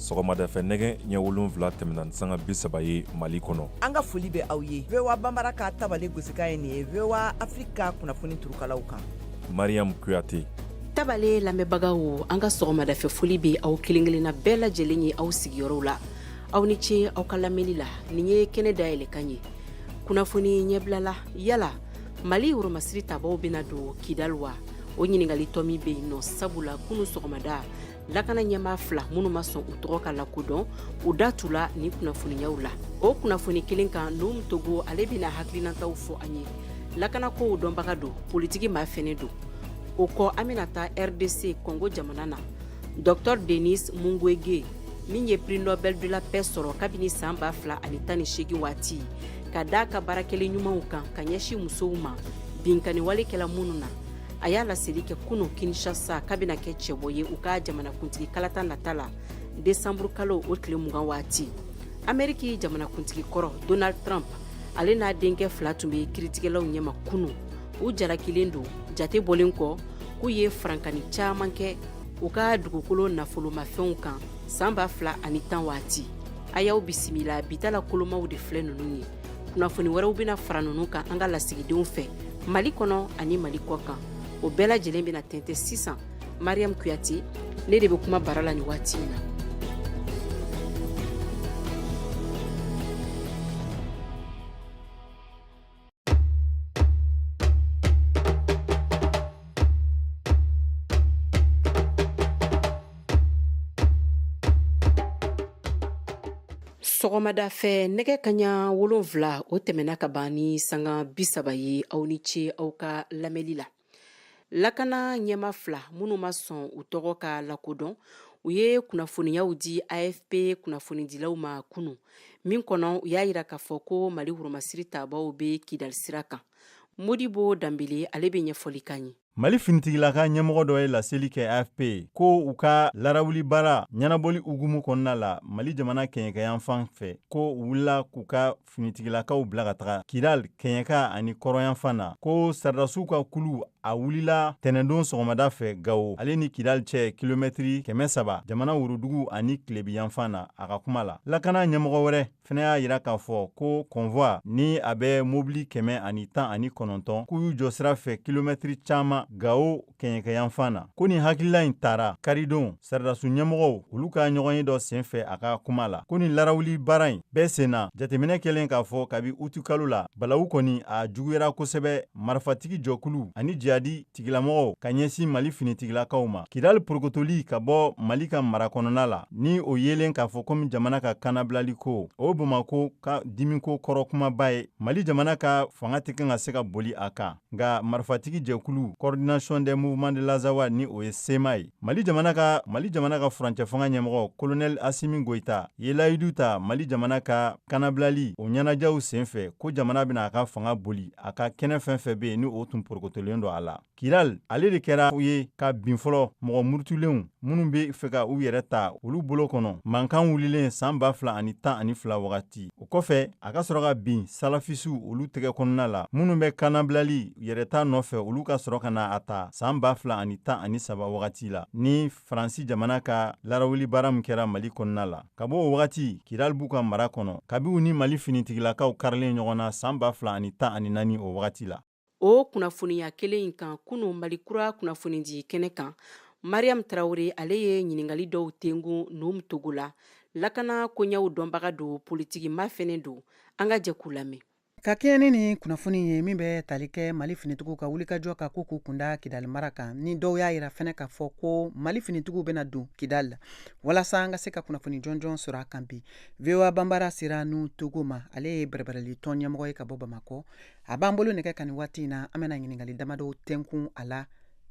sɔgɔmada fɛ nɛgɛ ɲɛ wolonfila tɛmɛna ni sanga bi saba ye mali kɔnɔ an ka foli bɛ aw ye voa bambara ka tabale gosikan ye nin ye voa afiriki ka kunnafoni turukalaw kan mariam kuyate tabale lamɛnbagaw an ka sɔgɔmadafɛ foli bɛ aw kelen kelenna bɛɛ lajɛlen ye aw sigiyɔrɔw la aw ni ce aw ka lamɛnni la nin ye kɛnɛ dayɛlɛ kan ye kunnafoni ɲɛbilala yala mali woromasiri tabaw bena don kidal wa o ɲiningali tɔmi be yen nɔ sabula kunu sɔgɔmada lakana ɲɛmaa fila minnu ma sɔn u tɔgɔ ka lakodɔn u da tula ni kunnafoniyaw la o kunnafoni kelen kan nuhum togo ale bena hakilinataw fɔ an ye lakana kow dɔnbaga don politiki maa fɛnɛ don o kɔ an bena taa rdc kɔngo jamana na Docteur denis mukwege min ye prix nobel de la paix sɔrɔ kabini san ba fila ani tan ni seegin waati ka da a ka baara kɛlen ɲumanw kan ka ɲɛsin musow ma binkanni wale kɛla minnu na a y'a laseli kɛ kunun kinshasa k'a bɛna kɛ cɛbɔ ye u ka jamanakuntigi kalata nata la desanburu kalo o tile mugan waati ameriki jamanakuntigi kɔrɔ donald trump ale n'a denkɛ fila tun bɛ kiritigɛlaw ɲɛma kunun u jalakilen don jate bɔlen kɔ k'u ye farankani caman kɛ u ka dugukolo nafolomafɛnw kan san ba fila ani tan waati a y'aw bisimila bi ta la kolomaw de filɛ ninnu ye kunnafoni wɛrɛw bɛna fara ninnu kan an ka lasigidenw fɛ mali kɔnɔ ani mali kɔ kan o bɛɛ lajɛlen bɛna tɛntɛ sisan mariam kuyate ne de bɛ kuma bara la nin waati in na sɔgɔmada fɛ nɛgɛ kaɲa wolonfila o tɛmɛna ka ban ni sanga bisaba ye aw ni ce aw ka lamɛnli la lakana ɲɛmaa fila minnu ma sɔn u tɔgɔ ka lakodɔn u ye kunnafoniyaw di afp kunnafonidilaw ma kunu min kɔnɔ u y'a yira k'a fɔ ko mali woromasiri tabaw bɛ kidali sira kan modibo danbele ale bɛ ɲɛfɔli k'an ye mali finitigilaka ɲɛmɔgɔ dɔ ye laseli kɛ afp ye ko u ka larawuli baara ɲɛnabɔli hukumu kɔnɔna la mali jamana kɛɲɛkɛyanfan fɛ ko u wulila k'u ka finitigilakaw bila ka taga kidal kɛɲɛka ani kɔrɔnyanfan na ko saridasiw ka kulu a wulila tɛnɛndon sɔgɔmada fɛ gawo ale ni kidal cɛ kilomɛtiri kɛmɛ saba jamana worodugu ani tilebinyanfan na a ka kuma la lakana ɲɛmɔgɔ wɛrɛ fɛnɛ y'a yira k'a fɔ ko kɔnvwa ni a bɛ mobili kɛmɛ ani tan ani kɔnɔntɔn k'u y'u jɔ sira fɛ kilomɛtiri caaman gawo kɛɲɛkɛyanfan na ko nin hakilila in tara karidon saradasu ɲɛmɔgɔw olu ka ɲɔgɔn ye dɔ sen fɛ a ka kuma la ko nin larawuli baara in bɛɛ senna jateminɛ kɛlen k'a fɔ kabi utukalo la balawu kɔni a juguyara kosɛbɛ marifatigi jɛkulu ani jihadi tigilamɔgɔw ka ɲɛsin mali finitigilakaw ma kidali porokotoli ka bɔ mali ka mara kɔnɔna la ni o yelen k'a fɔ komi jamana ka kannabilali ko o bamako ka dimiko kɔrɔ kumaba ye mali jamana ka fanga tɛ kan ka se ka boli a kan nka marifatigi jɛkulu coordination des mouvements de l'azawad ni o ye sema ye mali jamana ka furancɛfanga ɲɛmɔgɔ kolonɛli asimi goyita ye layidu ta mali jamana ka kanabilali o ɲɛnajɛw senfɛ ko jamana bɛna a ka fanga boli a ka kɛnɛ fɛn fɛn bɛ yen ni o tun porokotolen don a la kidali ale de kɛra u ye ka bin fɔlɔ mɔgɔ murutulenw minnu bɛ fɛ ka u yɛrɛ ta olu bolo kɔnɔ mankan wulilen san ba fila ani tan ani fila wagati o kɔfɛ a ka sɔrɔ ka bin salafisiw olu tɛgɛ kɔnɔna la minnu bɛ kannabilali yɛrɛta nɔfɛ olu ka sɔrɔ ka na a ta san ba fila ani tan ani saba wagati la ni faransi jamana ka larawuli baara min kɛra mali kɔnɔna la ka bɔ o wagati kidali b'u ka mara kɔnɔ kabi u ni mali finitigilakaw karilen ɲɔgɔn na san ba fila ani tan ani naani o wagati la o kunnafoniya kelen in kan kunun mali kura kunnafonidi kɛnɛ kan mariam tarawele ale ye ɲininkali dɔw tɛnkun nuhum togo la lakana koɲɛw dɔnbaga don politiki maa fɛnɛ don an ka jɛ k'u lamɛn ka kɛɲɛ ni nin kunnafoni ye min bɛ tali kɛ mali finitigiw ka wulikajɔ ka ko k'u kunda kidali mara kan ni dɔw y'a yira fɛnɛ k'a fɔ ko mali finitigiw bɛna don kidali la walasa an ka se ka kunnafoni jɔnjɔn sɔrɔ a kan bi voa banbara sera nuhum togo ma ale ye bɛrɛbɛrɛli tɔn ɲɛmɔgɔ ye ka bɔ bamakɔ a b'an bolo nɛgɛ kan nin waati in na an bɛna ɲininkali damadɔw tɛnkun a la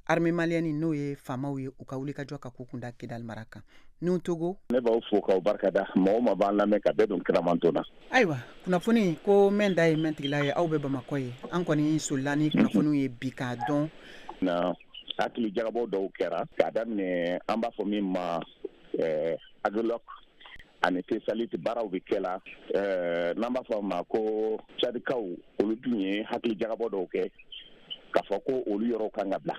armée malienne n'o ye faamaw ye u ka wulikajɔ ka k'u kunda kidali mara kan nuhum togo ne b'aw fo k'aw barikada mɔgɔ ma b'an lamɛn ka bɛɛ don kiramanto na ayiwa kunnafoni ko mɛn da ye mɛntigila ye aw bɛ bamakɔ ye an kɔni solila ni kunnafoniw ye bi k'a dɔn na hakili jagabɔ dɔw kɛra k'a daminɛ an b'a fɔ min ma eh, agilɔk ani tesaliti baaraw bɛ kɛ la eh, n'an b'a fɔ a ma ko cadikaw olu dun ye hakili jagabɔ dɔw kɛ k'a fɔ ko olu yɔrɔw kan ka bila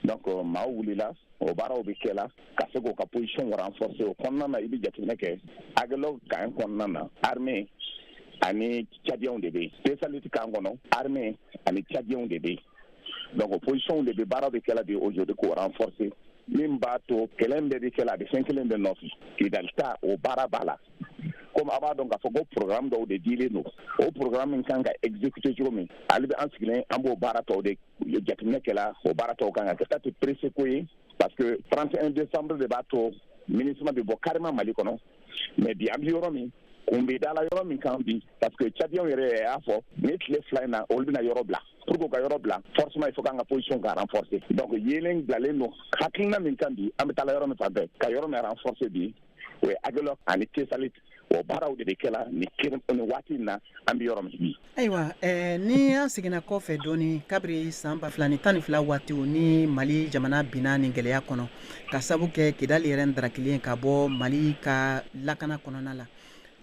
donc euh, maaw wulila o baaraw bɛ kɛ la ka se k'o ka position renforcer o kɔnɔna na i bɛ jateminɛ kɛ agilɔk kan kɔnɔna na armée ani cadiyɛnw de bɛ yen tesaliti kan kɔnɔ armée ani cadiyɛnw de bɛ yen donc o position de bɛ baara bɛ kɛla de aujourd'hui k'o renforcer min b'a to kɛlɛ bɛɛ bɛ kɛla a bɛ fɛn kelen de nɔfɛ kidali ta o baara b'a la comme a b'a dɔn k'a fɔ ko programme dɔw de dilen don o programme min kan ka exécuter cogo min ale bɛ an sigilen an b'o baara tɔw de jateminɛ kɛla o baara tɔw kan ka kɛ taa tɛ pressé ko ye parce que 31 décembre de b'a to minusma bɛ bɔ carrément mali kɔnɔ mais bi an bɛ yɔrɔ min kun bɛ dala yɔrɔ min kan bi parce que cadiyɛnw yɛrɛ y'a fɔ ni tile fila in na olu bɛna yɔrɔ bila pour que u ka yɔrɔ bila forcément il faut k'an ka position ka renforcer donc yeelen bilalen don hakilina min kan bi an bɛ taala yɔrɔ min fan fɛ ka yɔrɔ min renforcer bi o ye agelɔk ani tesalit o baaraw de bɛ kɛla nin waati in na an bɛ yɔrɔ min bi Ayiwa ni an seginna kɔ fɛ dɔɔnin kabiri san ba fila ni tan ni fila waati ni mali jamana binna ni gɛlɛya kɔnɔ ka sabu kɛ kidali yɛrɛ da kelen ka bɔ mali ka lakana kɔnɔna la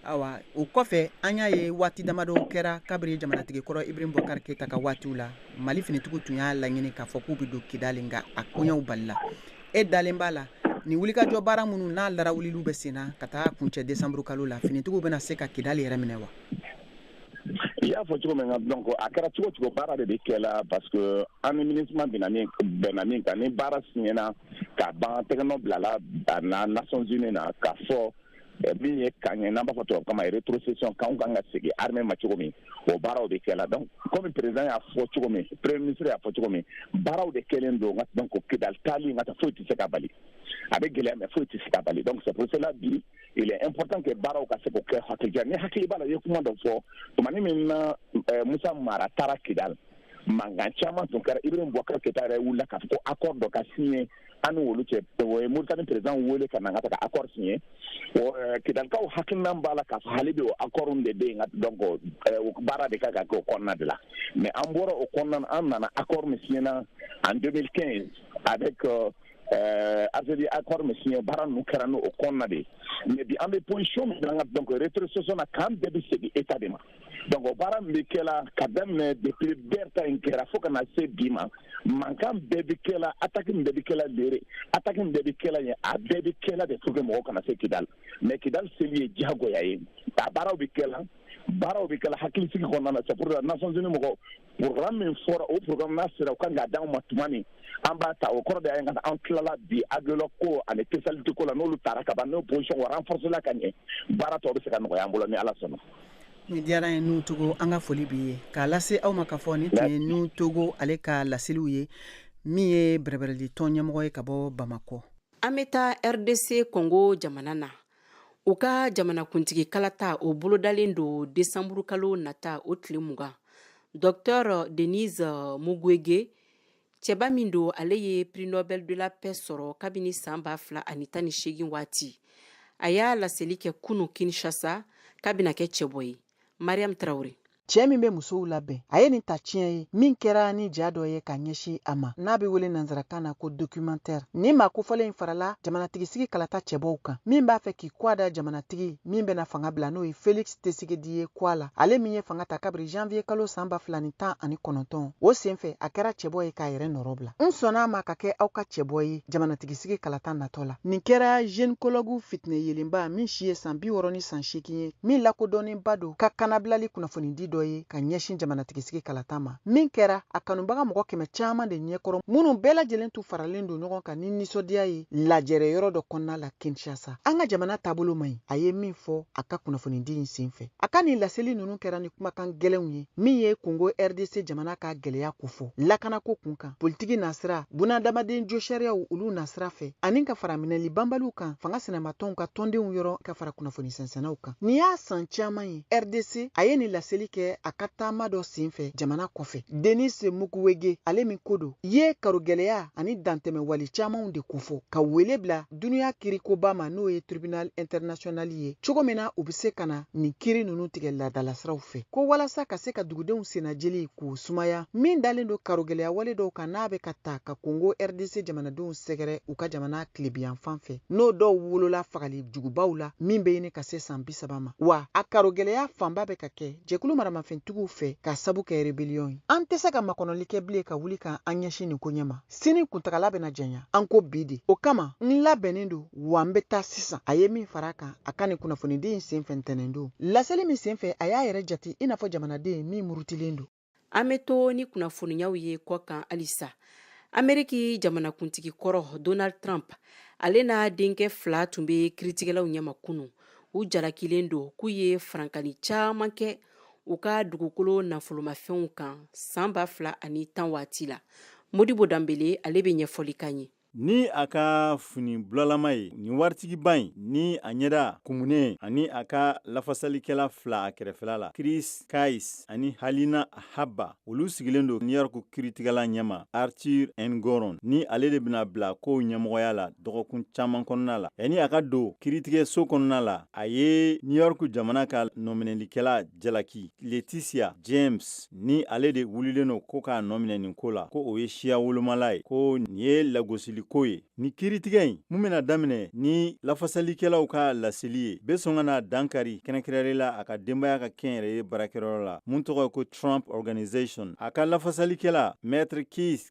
ayiwa o kɔfɛ an y'a ye waati damadɔ kɛra kabiri jamanatigi kɔrɔ ibrahim bubakar keyita ka waati la mali finitigiw tun y'a laɲini k'a fɔ k'u bɛ don kidali nka a koɲɛw balila e dalen b'a la nin wulikajɔ baara minnu n'a lara wuli bɛ sen na ka taa kuncɛ desanburukalo la finitigiw bɛna se ka kidali yɛrɛ minɛ wa i y'a fɔ cogo min na donc a kɛra cogo cogo baara de bɛ kɛ la parce que an ni MINUSMA bɛnna min bɛnna min kan ni baara siɲɛna ka ban tɛgɛnɔ bilala a na Nations Unies na k'a fɔ eh, min ye kan ye n'an b'a fɔ tubabukan na rétrocession kanw kan ka segin armée ma cogo min o baaraw de kɛla donc komi président y'a fɔ cogo min premier ministre y'a fɔ cogo min baaraw de kɛlen don donc kidali taali nka ta foyi tɛ se k'a bali a bɛ gɛlɛya mais foyi tɛ se k'a bali donc c'est pour cela bi il est important que baaraw ka se k'o kɛ hakilija n'i hakili b'a la i ye kuma dɔ fɔ tumani min na eh, musa mara taara kidali mankan caman tun kɛra ibrahim bubakar keyita yɛrɛ wulila k'a fɔ ko accord dɔ ka signé an ni olu cɛ o ye moritani président wele ka na ka taga accord signé eh, kidalikaw hakilina b'a la k'a fɔ hali bi o accord de bɛ yen donc eh, baara de kan ka kɛ o kɔnɔna de la mais an bɔra o kɔnɔna an nana accord min siɲɛna en 2015 avec euh, Eh, Algérie accord min signé baara ninnu kɛra n'o kɔnɔna de ye mais bi an bɛ position min na donc rétrocession na kan bɛɛ bɛ segin état de ma donc o baara min bɛ kɛla ka daminɛ depuis bɛr ta in kɛra fo ka na se bi ma mankan bɛɛ bɛ kɛla attaque min bɛɛ bɛ kɛla lere attaque min bɛɛ bɛ kɛla yen a bɛɛ bɛ kɛla de pour que mɔgɔw kana se kidali mais kidali seli ye diyagoya ye a baaraw bɛ kɛla baaraw bɛ kɛla hakilisigi kɔnɔna na c'est pour cela nations unies mɔgɔ programme min fɔra o programme n'a sera u kan k'a d'anw ma tuma min an b'a ta o kɔrɔ de ye an tilala bi agelɔk ko ani tesalit ko la n'olu taara ka ban n'o position renforcéla ka ɲɛ baara tɔw bɛ se ka nɔgɔya an bolo ni ala sɔnna ni diyara ye nuhu togo an ka foli b'i ye k'a lase aw ma k'a fɔ nin tun ye nuhu togo ale ka laseliw ye min ye bɛrɛbɛrɛli tɔn ɲɛmɔgɔ ye ka bɔ bamakɔ an bɛ taa rdc kɔngo jamana na u ka jamanakuntigi kalata o bolodalen don desanburukalo nata o tile mugan docteur denis mukwege cɛba min don ale ye prix nobel de la paix sɔrɔ kabini san ba fila ani tan ni seegin waati a y'a laseli kɛ kunu kinshasa k'a bɛna kɛ cɛbɔ ye mariam tarawele cɛ min be musow labɛn a ye nin ta tiɲɛ ye min kɛra ni ja dɔ ye ka ɲɛsin a ma n'a be wele nansarakan na ko documentaire nin maa kofɔlen in farala jamanatigisigi kalata cɛbɔw kan min b'a fɛ k'i kɔ da jamanatigi min bɛna fanga bila n'o ye felix tshisekedi ye kɔ la ale min ye fanga ta kabiri janvier kalo san ba fila ni tan ani kɔnɔntɔn o sen fɛ a kɛra cɛbɔ ye k'a yɛrɛ nɔrɔ bila n sɔnna a ma ka kɛ aw ka cɛbɔ ye jamanatigisigi kalata natɔ la nin kɛra gynécologue fitinɛ yelenba min si ye san bi wɔrɔ ni san seegin ye min lakodɔnnenba don ka kanabilali kunnafonidi dɔ ye ka ɲɛsin jamanatigisigi kalata ma min kɛra a kanubaga mɔgɔ kɛmɛ caman de ɲɛkɔrɔ minnu bɛɛ lajɛlen tun faralen don ɲɔgɔn kan ni nisɔndiya ye lajɛrɛ yɔrɔ dɔ kɔnɔna la kinshasa an ka jamana taabolo man ɲi a ye min fɔ a ka kunnafonidi in sen fɛ a ka nin laseli ninnu kɛra ni kumakan gɛlɛnw ye min ye kongo rdc jamana ka gɛlɛya kofɔ lakanako kun kan politiki nasira bunadamaden josariyaw olu nasira fɛ ani ka fara minɛli banbaliw kan fanga sinamatɔnw ka tɔndenw yɔrɔ ka fara kunnafoni sɛnsɛnnaw kan nin y'a san caman ye rdc a ye nin laseli kɛ a ka taama dɔ sen fɛ jamana kɔfɛ denis mukwege ale min ko don ye karogɛlɛya ani dantɛmɛ wale camanw de kofɔ ka wele bila duniya kirikoba ma n'o ye tribunal international ye cogo min na u bɛ se ka na nin kiri ninnu tigɛ laadalasiraw fɛ ko walasa ka se ka dugudenw sennajeli k'u sumaya min dalen don karogɛlɛya wale dɔw kan n'a bɛ ka ta ka kongo rdc jamanadenw sɛgɛrɛ u ka jamana tilebinyanfan fɛ n'o dɔw wolola fagali jugubaw la min bɛ ɲini ka se san bi saba ma wa a karogɛlɛya fanba bɛ ka kɛ jɛkulu maramafɛntigiw fɛ k'a sabu kɛ rebeliyɔn ye an tɛ se ka makɔnɔli kɛ bilen ka wuli ka an ɲɛsin nin koɲɛ ma sini kuntagala bɛna janya an ko bi de o kama n labɛnnen don wa n bɛ taa sisan a ye min fara kan a ka nin kunnafonidi in senfɛ ntɛnɛn don laseli min senfɛ a y'a yɛrɛ jate i n'a fɔ jamanaden min murutilen don an bɛ to ni kunnafoniyaw ye kɔkan halisa ameriki jamanakuntigi kɔrɔ donald trump ale n'a denkɛ fila tun bɛ kiritigɛlaw ɲɛma kunun u jalakilen don k'u ye farankani caman kɛ u ka dugukolo nafolomafɛnw kan san ba fila ani tan waati la modibo danbele ale bɛ ɲɛfɔli k'an ye ni a ka fini bulalama ye nin waritigiba in ni a ɲɛda kumunen ani a ka lafasalikɛla fila a kɛrɛfɛla la chris kise ani alina habba olu sigilen don new york kiritigɛla ɲɛma arthur engoron ni ale de bɛna bila kow ɲɛmɔgɔya la dɔgɔkun caman kɔnɔna la yanni a ka don kiritigɛso kɔnɔna la A ye New York jamana ka nɔminɛlikɛla jalaki Letitia James ni ale de wulilen don ko k'a nɔminɛ nin ko la, ko o ye siya wolomala ye, ko nin ye lagosiliko ye. Nin kiiritigɛ in, mun bɛna daminɛ ni lafasalikɛlaw ka laseli ye, bɛ sɔn ka na dankari kɛrɛnkɛrɛnnenya la a ka denbaya ka kɛnyɛrɛye baarakɛyɔrɔ la, mun tɔgɔ ye ko Trump Organization. A ka lafasalikɛla, Maître Kise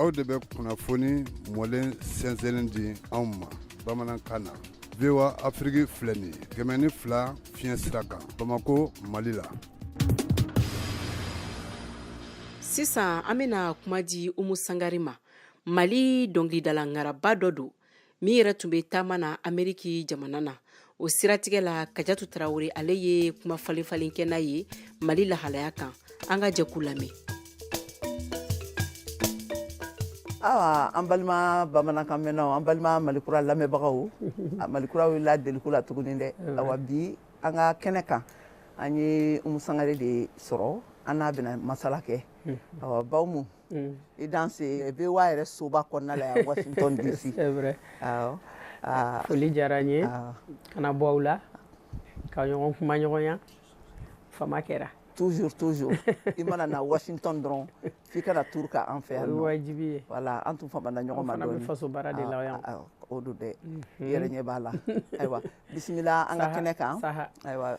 aw de bɛ kunnafoni mɔlen sɛnsɛnlen di anw ma bamanankan na voa afiriki filɛ nin ye kɛmɛ ni fila fiɲɛ sira kan bamako mali la sisan an bɛna kuma di umu sangari ma mali dɔnkilidala ŋaraba dɔ don min yɛrɛ tun bɛ taama na ameriki jamana na o siratigɛ la kajatu tarawele ale ye kuma falen falen kɛ n'a ye mali lahalaya kan an ka jɛ k'u lamɛn awa an balima bamanankan mɛnnaw an balima malikura lamɛnbagaw malikura wulila deliko la tuguni dɛ awa bi an ka kɛnɛ kan an ye umu sangare de sɔrɔ an n'a bɛna masala kɛ awa ba umu Mm. i danse voa yɛrɛ soba kɔnɔna la yan washington dc foli diyara n ye ka na bɔ aw la ka ɲɔgɔn kumaɲɔgɔnya fama kɛra toujours toujours i mana na washington dɔrɔn f'i ka na tour kɛ an fɛ yan o ye wajibi ye voilà an tun famana ɲɔgɔn ma dɔɔni an fana bɛ faso baara de la yan o don dɛ mhm. i yɛrɛ ɲɛ b'a la ayiwa bisimila an ka kɛnɛ kan ayiwa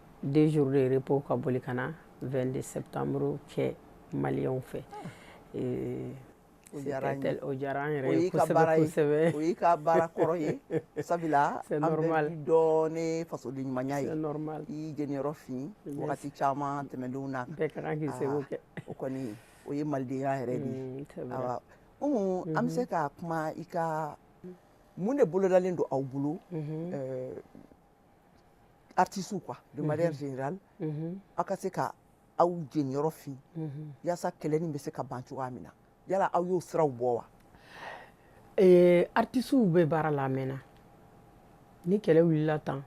deux jours de repos ka boli ka na vingt-deux septembre kɛ maliens fɛ o diyara an yɛrɛ ye kosɛbɛsɛbɛ o y'i ka baara kɔrɔ ye sabula an b'i dɔn ni fasoden ɲumanya ye i y'i jeniyɔrɔ fin waati caman tɛmɛnenw na bɛɛ ka kan k'i seko kɛ o kɔni o ye malidenya yɛrɛ de ye an bɛ se ka kuma i ka mun de bolodalen don aw bolo artisiw quoi de manière générale aw ka se ka aw jeniyɔrɔ fin yaasa kɛlɛ nin bɛ se ka ban cogoya min na yala aw y'o siraw bɔ wa artisiw bɛ baara la a mɛɛnna ni kɛlɛ wulila tan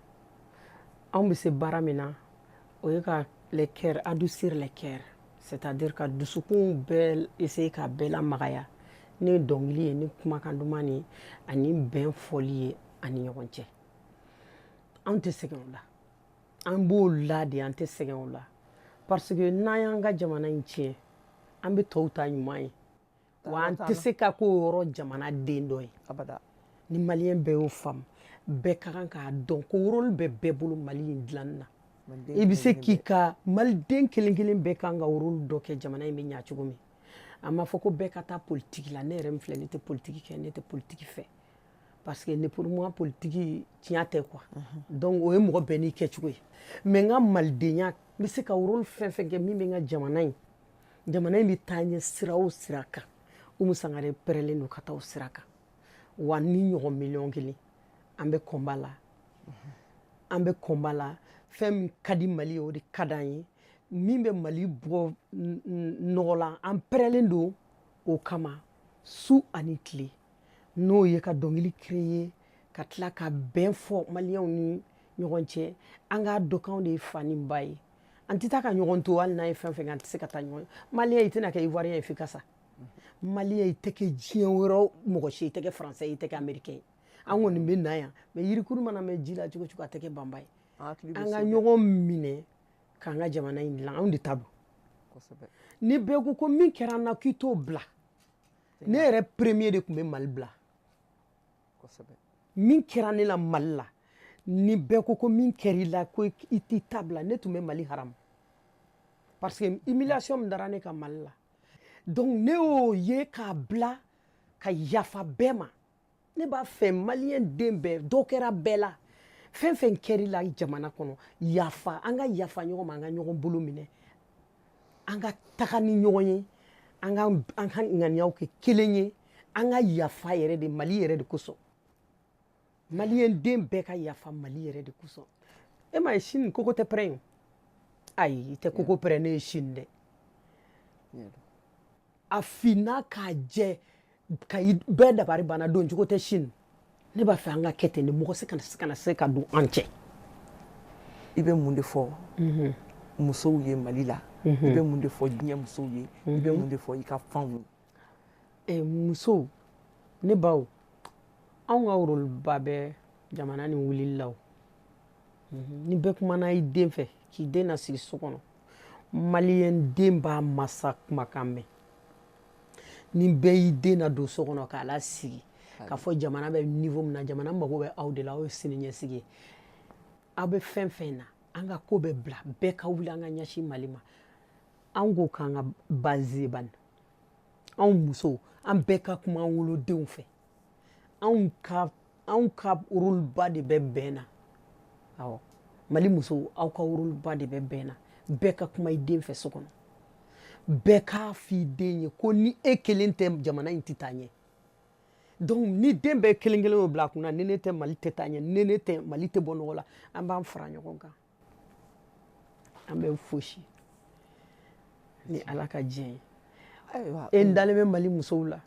anw bɛ se baara min na o ye ka les cœurs adoucir les cœurs c'est-à-dire ka dusukun bɛɛ se ka bɛɛ lamagaya ni dɔnkili ye ni kumakan duman ye ani bɛn fɔli ye ani ɲɔgɔn cɛ anw tɛ sɛgɛn o la an b'o la de an tɛ sɛgɛn o la parce que n'an y'an ka jamana in tiɲɛ an bɛ tɔw ta ɲuman ye wa an tɛ se ka k'o yɔrɔ jamana den dɔ ye ni maliyɛn bɛɛ y'o faamu bɛɛ ka kan k'a dɔn ko rôle bɛ bɛɛ bolo mali in dilanni na i bɛ se k'i ka maliden kelen kelen bɛɛ kan ka rôle dɔ kɛ jamana in bɛ ɲa cogo min a ma fɔ ko bɛɛ ka taa politiki la ne yɛrɛ min filɛ ne tɛ politiki kɛ ne tɛ politiki fɛ parce que ne pour moi politique tiɲɛ tɛ quoi donc o ye mɔgɔ bɛɛ n'i kɛcogo ye mais n ka malidenya n bɛ se ka rôle fɛn fɛn kɛ min bɛ n ka jamana in jamana in bɛ taa ɲɛ sira o sira kan Umu Sangare pɛrɛlen don ka taa o sira kan wa ne ɲɔgɔn miliyɔn kelen an bɛ combat la an bɛ combat la fɛn min ka di Mali ye o de ka d'an ye min bɛ Mali bɔ nɔgɔ la an pɛrɛlen don o kama su ani tile n'o ye ka dɔnkili créer ka tila ka bɛn fɔ maliyɛnw ni ɲɔgɔn cɛ an k'a dɔn k'anw de ye fa ni ba ye an tɛ taa ka ɲɔgɔn to hali n'an ye fɛn fɛn kɛ an tɛ se ka taa ɲɔgɔn maliyɛn i tɛna kɛ ivoirien ye f'i ka sa maliyɛn i tɛ kɛ diɲɛ wɛrɛ mɔgɔ si i tɛ kɛ français i tɛ kɛ américain ye an kɔni bɛ na yan mais yirikuru mana mɛn ji la cogo cogo a tɛ kɛ banba ye an ka ɲɔgɔn minɛ k'an ka jamana in dilan anw de ta don ni bɛɛ ko ko min kɛra an na k'i t'o bila ne yɛrɛ premier de tun bɛ mali bila min kɛra ne la mali la ni bɛɛ ko ko min kɛra i la ko i t'i ta bila ne tun bɛ mali haramu parce que humiliation min dara ne kan mali la donc ne y'o ye k'a bila ka yafa bɛɛ ma ne b'a fɛ maliyɛn den bɛɛ dɔ kɛra bɛɛ la fɛn fɛn kɛr'i la jamana kɔnɔ yafa an ka yafa ɲɔgɔn ma an ka ɲɔgɔn bolo minɛ an ka taga ni ɲɔgɔn ye an ka an ka ŋaniyaw kɛ kelen ye an ka yafa yɛrɛ de mali yɛrɛ de kosɔn maliyɛn den bɛɛ ka yafa mali yɛrɛ de kosɔn e m'a ye Chine kogo tɛ pɛrɛn yo ayi i tɛ kogo pɛrɛnnen ye Chine dɛ a finna k'a jɛ ka i bɛɛ dabari banna don cogo tɛ Chine ne b'a fɛ an ka kɛ ten de mɔgɔ si kana se kana se ka don an cɛ i bɛ mun de fɔ mhm. musow ye mali la i mhm. bɛ mun de fɔ diɲɛ musow ye i bɛ mhm. mun de fɔ i ka fanw ye eh, musow ne baw anw ka rôleba bɛ jamana nin wulili la o ni bɛɛ kumana i den fɛ k'i den nasigi so kɔnɔ maliyɛn den b'a masa kumakan mɛn ni bɛɛ y'i den nadon so kɔnɔ k'a lasigi k'a fɔ jamana bɛ niveau min na jamana mago bɛ aw de la aw ye siniɲɛsigi ye aw bɛ fɛn fɛn na an ka ko bɛɛ bila bɛɛ ka wuli an ka ɲɛsin mali ma an k'o k'an ka baseba ye anw musow an bɛɛ ka kuma an wolodenw fɛ anw ka anw ka rôleba de bɛ bɛn na awɔ mali musow aw ka rôleba de bɛ bɛn na bɛɛ ka kuma i den fɛ so kɔnɔ bɛɛ k'a f'i den ye ko ni e kelen tɛ jamana in tɛ taa ɲɛ donc ni den bɛɛ kelen kelen y'o bila a kun na ni ne tɛ mali tɛ taa ɲɛ ni ne tɛ mali tɛ bɔ nɔgɔ la an b'an fara ɲɔgɔn kan an bɛ fosi ni ala ka diɲɛ ye ayiwa e n dalen bɛ mali musow la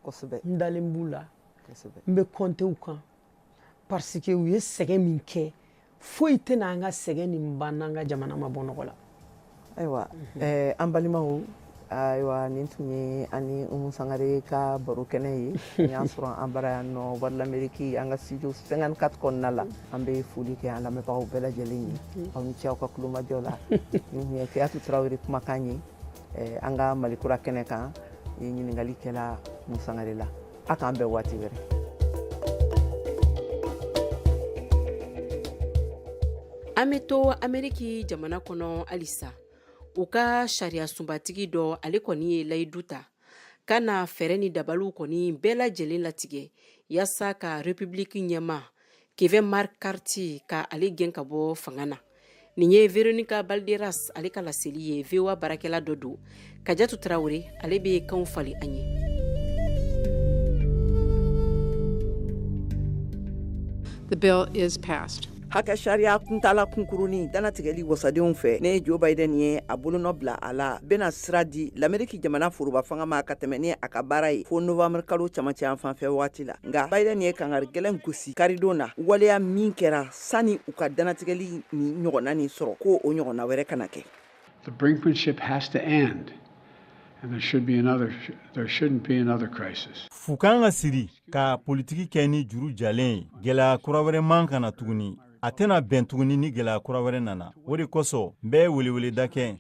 kosɛbɛ n dalen b'u la kosɛbɛ n bɛ compter u kan parce que u ye sɛgɛn min kɛ foyi tɛna an ka sɛgɛn nin ban n'an ka jamana ma bɔ nɔgɔ la ayiwa eh, an balimaw ayiwa nin tun ye an ni umu sangare ka baro kɛnɛ ye n y'a sɔrɔ an bara yan nɔ voix de l'amérique an ka studio 54 kɔnɔna la an bɛ foli kɛ an lamɛnbagaw bɛɛ lajɛlen ye mhm. aw ni ce aw ka kulomajɔ la nin tun ye kajatu tarawele kumakan ye eh, an ka malikura kɛnɛ kan ye ɲininkali kɛla umu sangare la a k'an bɛn waati wɛrɛ an bɛ to ameriki jamana kɔnɔ halisa u ka sariya sunbatigi dɔ ale kɔni ye layidu ta ka na fɛɛrɛ ni dabaliw kɔni bɛɛ lajɛlen latigɛ yaasa ka repibiliki ɲɛmaa kevin mccarthy ka ale gɛn ka bɔ fanga na nin ye veronica balderas ale ka laseli ye voa baarakɛla dɔ don kajatu tarawele ale bɛ kanw falen an ye the bill is passed hakɛ sariya kuntala kunkurunnin danatigɛli wasadenw fɛ ni joe biden ye a bolonɔ bila a la bena sira di lameriki jamana foroba fanga ma ka tɛmɛ ni a ka baara ye fo novambre kalo camancɛ yan fanfɛ wagati la nka biden ye kangari gɛlɛn gosi karidon na waleya min kɛra sani u ka danatigɛli ni ɲɔgɔnna nin sɔrɔ ko o ɲɔgɔnna wɛrɛ kana kɛ fu ka kan ka siri ka politiki kɛ ni juru jalen ye gɛlɛya kura wɛrɛ man kan ka na tuguni a tɛna bɛn tuguni ni gɛlɛya kura wɛrɛ nana o de kosɔn n bɛ weleweleda kɛ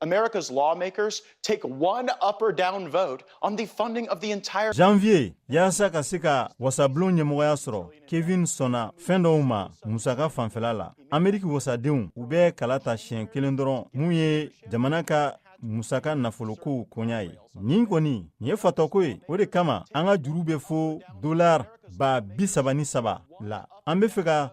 America's lawmakers take one up or down vote on the funding of the entire Janvier yasa ka se ka wasablon ɲɛmɔgɔya sɔrɔ Kevin sɔnna fɛn dɔw ma musaka fanfɛla la Ameriki wasadenw u bɛ kala ta siɲɛ kelen dɔrɔn min ye jamana ka musaka nafolokow koɲa ye nin kɔni nin ye fatɔko ye o de kama an ka juru bɛ fo dolar ba bi saba ni saba la an be fɛ ka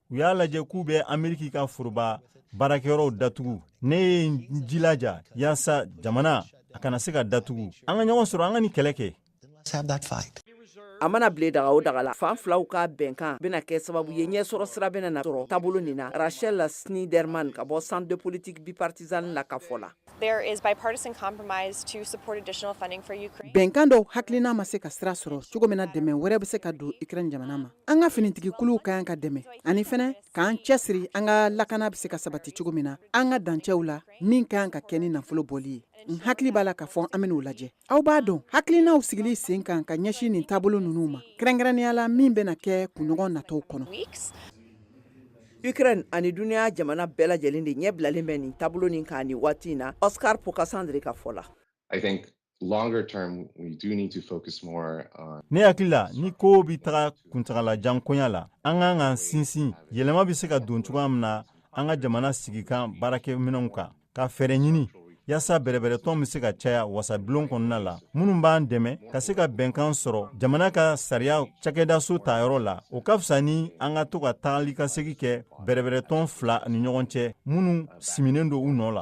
u y'a lajɛ k'u bɛ ameriki ka foroba baarakɛyɔrɔw datugu ne ye n jilaja yaasa jamana a kana se ka datugu an ka ɲɔgɔn sɔrɔ an ka nin kɛlɛ kɛ a mana bile daga o daga la fan filaw ka bɛnkan bena kɛ sababu ye ɲɛsɔrɔ sira bena na sɔrɔ taabolo nin na rachel sniderman ka bɔ centre de politique bipartisan na ka fɔ la Bɛnkan dɔw hakilina ma se ka sira sɔrɔ cogo min na dɛmɛ wɛrɛ bɛ se ka don Ukraine jamana ma an ka finitigikuluw ka kan ka dɛmɛ ani fɛnɛ k'an cɛsiri an ka lakana bɛ se ka sabati cogo min na an ka dancɛw la min ka kan ka kɛ ni nafolo bɔli ye n hakili b'a la k'a fɔ an bɛn'o lajɛ aw b'a dɔn hakilinaw sigili sen kan ka ɲɛsin nin taabolo ninnu ma kɛrɛnkɛrɛnnenya la min bɛna kɛ kunɲɔgɔn natɔw kɔnɔ Ukraine ani dunya jamana bɛɛ lajɛlen de ɲɛ bilalen bɛ nin taabolo nin kan ni waati in na Oscar Pocasangre ka fɔ la. I think longer term we do need to focus more on Ne hakili la ni kow bi taga kuntagala jan koɲa la, an kan k'an sinsin yɛlɛma bɛ se ka don cogoya min na an ka jamana sigikan baarakɛminɛnw kan. ka fɛɛrɛ ɲini yaasa bɛrɛbɛrɛtɔn bɛ se ka caya wasabilon kɔnɔna la minnu b'an dɛmɛ ka se ka bɛnkan sɔrɔ jamana ka sariya cakɛdaso tayɔrɔ la o ka fisa ni an ka to ka tagali ka segi kɛ bɛrɛbɛrɛtɔn fila ni ɲɔgɔn cɛ minnu siminen don u nɔ la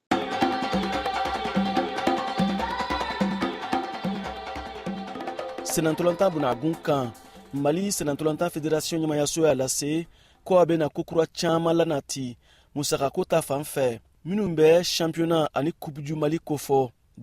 sennantolatan bunagun kan mali sennantolatan federasiɔn ɲɛmayaso y'a lase ko a bɛna kokura caaman lanati musakako ta fan fɛ minnu bɛ sanpiyona ani coupe du mali kofɔ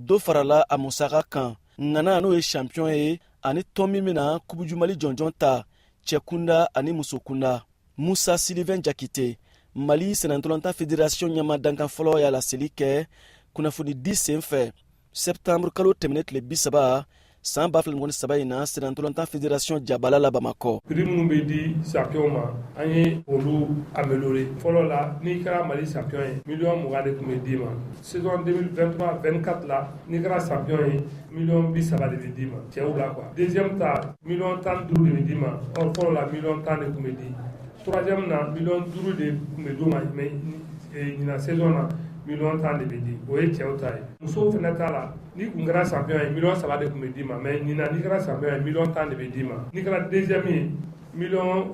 dɔ farala a musaka kan ŋana n'o ye sanpiyɔn ye ani tɔn min bɛna coupe du mali jɔnjɔn ta cɛkunda ani musokunda musa silivɛn jakite mali sennantolatan federasiyɔn ɲɛma dankan fɔlɔ y'a laseli kɛ kunnafoni di sen fɛ sɛptanburu kalo tɛmɛnen tile bisaba san ba fila ni mugan ni saba in na sennantolatan federasiyɔn jabala la bamakɔ prix minnu bɛ di champion ma an ye olu améliorer fɔlɔ la n'i kɛra mali champion ye miliyɔn mugan de tun bɛ d'i ma saison 2023 24 la n'i kɛra champion ye miliyɔn bi saba de bɛ d'i ma cɛw la quoi deuxième ta miliyɔn tan ni duuru de bɛ d'i ma or fɔlɔ la miliyɔn tan de tun bɛ di troisième na miliyɔn duuru de tun bɛ d'u ma mais ɲinan saison na miliyɔn tan de bɛ di o ye cɛw ta ye musow fana ta la n'i tun kɛra champion ye miliyɔn saba de tun bɛ d'i ma mais ɲinan n'i kɛra champion ye miliyɔn tan de bɛ d'i ma n'i kɛra deuxième ye Mi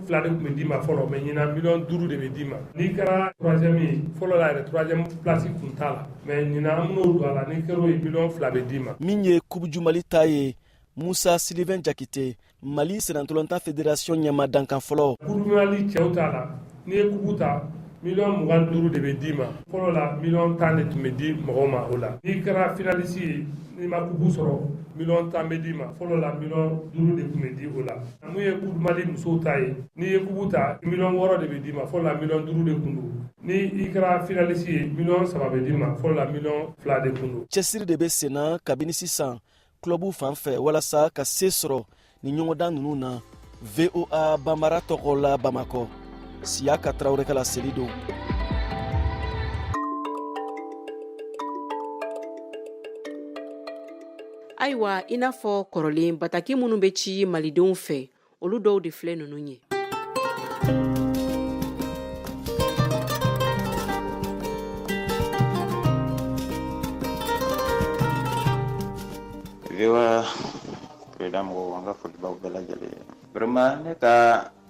fila de tun bɛ d'i ma fɔlɔ mɛ ɲin mi duuru de bɛ d'i ma n'i kɛra fɔlɔ yɛrɛsi tun t'a la mɛ ɲin minnu don a la ni kɛra mi fila bɛ d'i ma min ye kubuju mali ta ye musa siribɛ jakite mali sirantɔn ta fɛ desiɔn ɲɛma dankan fɔlɔ cɛw t'a la n'i ye coupe ta miliyɔn mugan ni duuru de bɛ d'i ma fɔlɔ la miliyɔn tan de tun bɛ di mɔgɔw ma o la n'i kɛra finalisi ye n'i ma coupe sɔrɔ miliyɔn tan bɛ d'i ma fɔlɔ la miliyɔn duuru de tun bɛ di o la mun ye coupe du mali musow ta ye n'i ye coupe ta miliyɔn wɔɔrɔ de bɛ d'i ma fɔlɔ la miliyɔn duuru de tun don ni i kɛra finalisi ye miliyɔn saba bɛ d'i ma fɔlɔ la miliyɔn fila de tun don cɛsiri de bɛ senna kabini sisan kulɔbu fan fɛ walasa ka se sɔrɔ ni ɲɔgɔndan ninnu na voa bambara tɔgɔ la bamakɔ siyaka tarawele ka laseli don ayiwa i n'a fɔ kɔrɔlen bataki minnu bɛ ci malidenw fɛ olu dɔw de filɛ ninnu ye VOA Freedom mɔgɔw an ka foli b'aw bɛɛ lajɛlen vraiment ne ka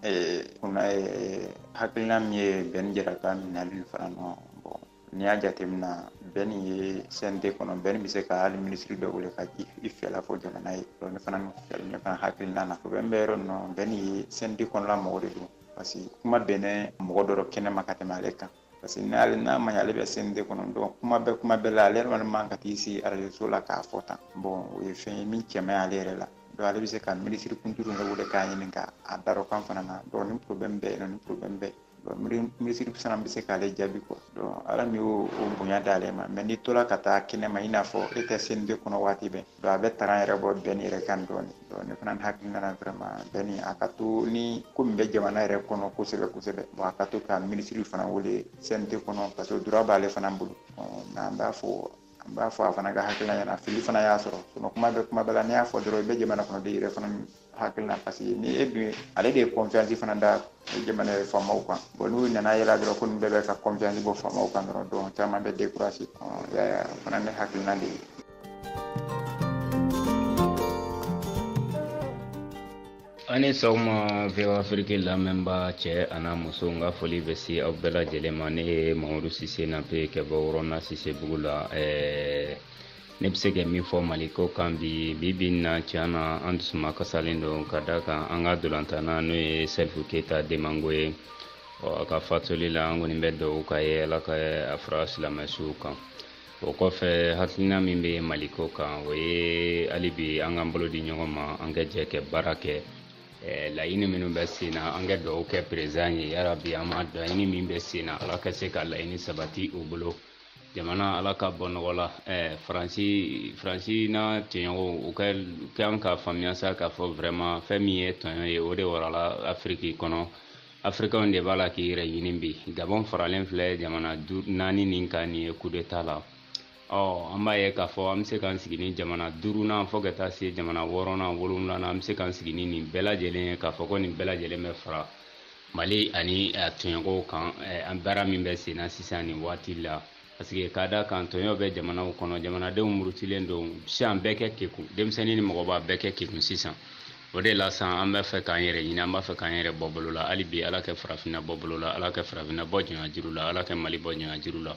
eh, kunna eh, hakilina min ye Bɛn Jara ka minɛli fana nɔ bon n'i y'a jateminɛ Bɛni ye CNT kɔnɔ Bɛni bɛ se ka hali minisiri dɔ wele ka i fɛla fɔ jamana ye ne fana ne fana hakilina na o Bɛn bɛ yɔrɔ nɔ Bɛni ye CNT kɔnɔna mɔgɔ de don parce que kuma bɛnnen mɔgɔ dɔ kɛnɛ ma ka tɛmɛ ale kan parce que n'ale n'a ma ɲɛ ale bɛ CNT kɔnɔ donc kuma bɛɛ kuma bɛɛ la ale yɛrɛ man ka t'i sigi arajo la k'a fɔ tan bon o ye fɛn ye min cɛ man ɲi ale yɛrɛ la donc ale bɛ se ka minisiri kuntigi wele k'a ɲininka a droit kan fana na donc ni problème bɛ yen nɔ ni problème bɛ yen minisiri fana bɛ se k'ale jaabi quoi donc ala min y'o bonya d'ale ma mais n'i tola ka taa kɛnɛ ma i n'a fɔ e tɛ CNT kɔnɔ waati bɛɛ donc a bɛ tanga yɛrɛ bɔ Bɛni yɛrɛ kan dɔɔni donc ne fana hakilina na vraiment Bɛni a ka to ni ko min bɛ jamana yɛrɛ kɔnɔ kosɛbɛ kosɛbɛ bon a ka to ka minisiri fana wele CNT kɔnɔ parce que droit b'ale fana bolo mais an b'a fɔ n b'a fɔ a fana ka hakilila ɲɛna fili fana y'a sɔrɔ kuma bɛ kuma bɛɛ la n'i y'a fɔ dɔrɔn i bɛ jamana kɔnɔ de yɛrɛ fana hakilina parce que ni e dun ale de ye confiance fana da jamana yɛrɛ faamaw kan bon n'u nana yɛlɛ dɔrɔn ko nin bɛɛ bɛ ka confiance bɔ faamaw kan dɔrɔn donc caman bɛ décourager yaya fana ne hakilina de ye a' ni sɔgɔma VOA Afrique lamɛnba cɛ an'a muso n ka foli bɛ se aw bɛɛ lajɛlen ma ne ye mamadu sise nape kɛ bɔ wɔrɔna Sisebugu la ɛɛ ne bɛ se ka min fɔ mali ko kan bi bi in na tiɲɛ na an dusuma kasalen don k'a da kan an ka dolantanna n'o ye Salifu Keyita Domingo ye ɔ a ka fatuli la an kɔni bɛ dugawu k'a ye ala ka a fara silamɛsuw kan o kɔfɛ hakilina min bɛ mali ko kan o ye hali bi an k'an bolo di ɲɔgɔn ma an ka jɛ kɛ baara kɛ laɲini minnu bɛ sen na an ka dugawu kɛ président ye yarabi an ma laɲini min bɛ sen na ala ka se ka laɲini sabati u bolo jamana ala ka bɔ nɔgɔ la eh, faransi faransi n'a tɔɲɔgɔnw u ka kan k'a faamuya sa k'a fɔ vraiment fɛn min ye tɔɲɔ ye o de warala afiriki kɔnɔ afirikanw de b'a la k'i yɛrɛ ɲini bi gabɔn faralen filɛ jamana naani nin kan nin ye kudeta la ɔ an b'a ye k'a fɔ an bɛ se k'an sigi ni jamana duurunan fo ka taa se jamana wɔɔrɔnan wolonwulanan an bɛ se k'an sigi ni nin bɛɛ lajɛlen ye k'a fɔ ko nin bɛɛ lajɛlen bɛ fara Mali ani a tɔɲɔgɔnw kan an baara min bɛ senna sisan nin waati la parce que k'a da kan tɔɲɔ bɛ jamanaw kɔnɔ jamanadenw murutilen don sisan bɛɛ kɛ kekun denmisɛnnin ni mɔgɔba bɛɛ kɛ kekun sisan o de la san an b'a fɛ k'an yɛrɛ ɲini an b'a fɛ k'an yɛrɛ bɔ bolo la hali bi ala kɛ farafinna bɔ bolo la ala kɛ farafinna bɔ jɔnyajuru la ala kɛ mali bɔ jɔnyajuru la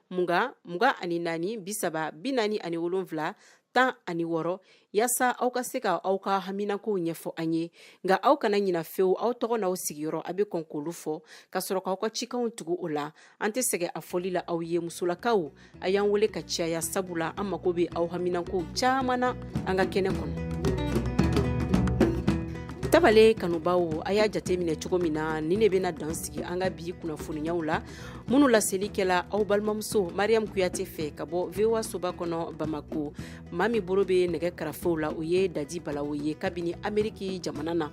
mugan mugan ani naani bi saba bi naani ani wolonfila tan ani wɔrɔ yaasa aw ka se ka aw ka haminakow ɲɛfɔ an ye nka aw kana ɲina fewu aw tɔgɔ n'aw sigiyɔrɔ a bɛ kɔn k'olu fɔ ka sɔrɔ k'aw ka cikanw tugu o la an tɛ sɛgɛ a fɔli la aw ye musolakaw a y'an wele ka caya sabula an mago bɛ aw haminakow caman na an ka kɛnɛ kɔnɔ tabale kanubaw a y'a jate minɛ cogo min na ni ne bɛna dan sigi an ka bi kunnafoniyaw la minnu laselikɛla aw balimamuso mariam kuyate fɛ ka bɔ voa soba kɔnɔ bamako maa min bolo bɛ nɛgɛ karafew la o ye dadi balawo ye kabini ameriki jamana na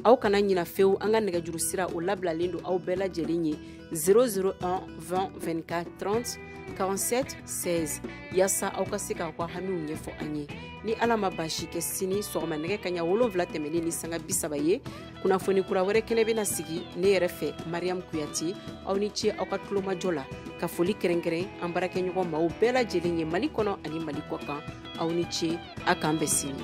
aw kana ɲina fewu an ka nɛgɛjuru sira o labilalen don aw bɛɛ lajɛlen ye 001 20 24 30 47 16 yaasa aw ka se k'aw ka hamiw ɲɛfɔ an ye ni ala ma baasi kɛ sini sɔgɔma nɛgɛ kaɲa wolonfila tɛmɛlen ni sanga bisaba ye kunnafoni kura wɛrɛ kɛnɛ bɛna sigi ne yɛrɛ fɛ mariam kuyate aw ni ce aw ka tulomajɔ la ka foli kɛrɛnkɛrɛn an baarakɛɲɔgɔn maaw bɛɛ lajɛlen ye mali kɔnɔ ani mali kɔ kan aw ni ce a k'an bɛn sini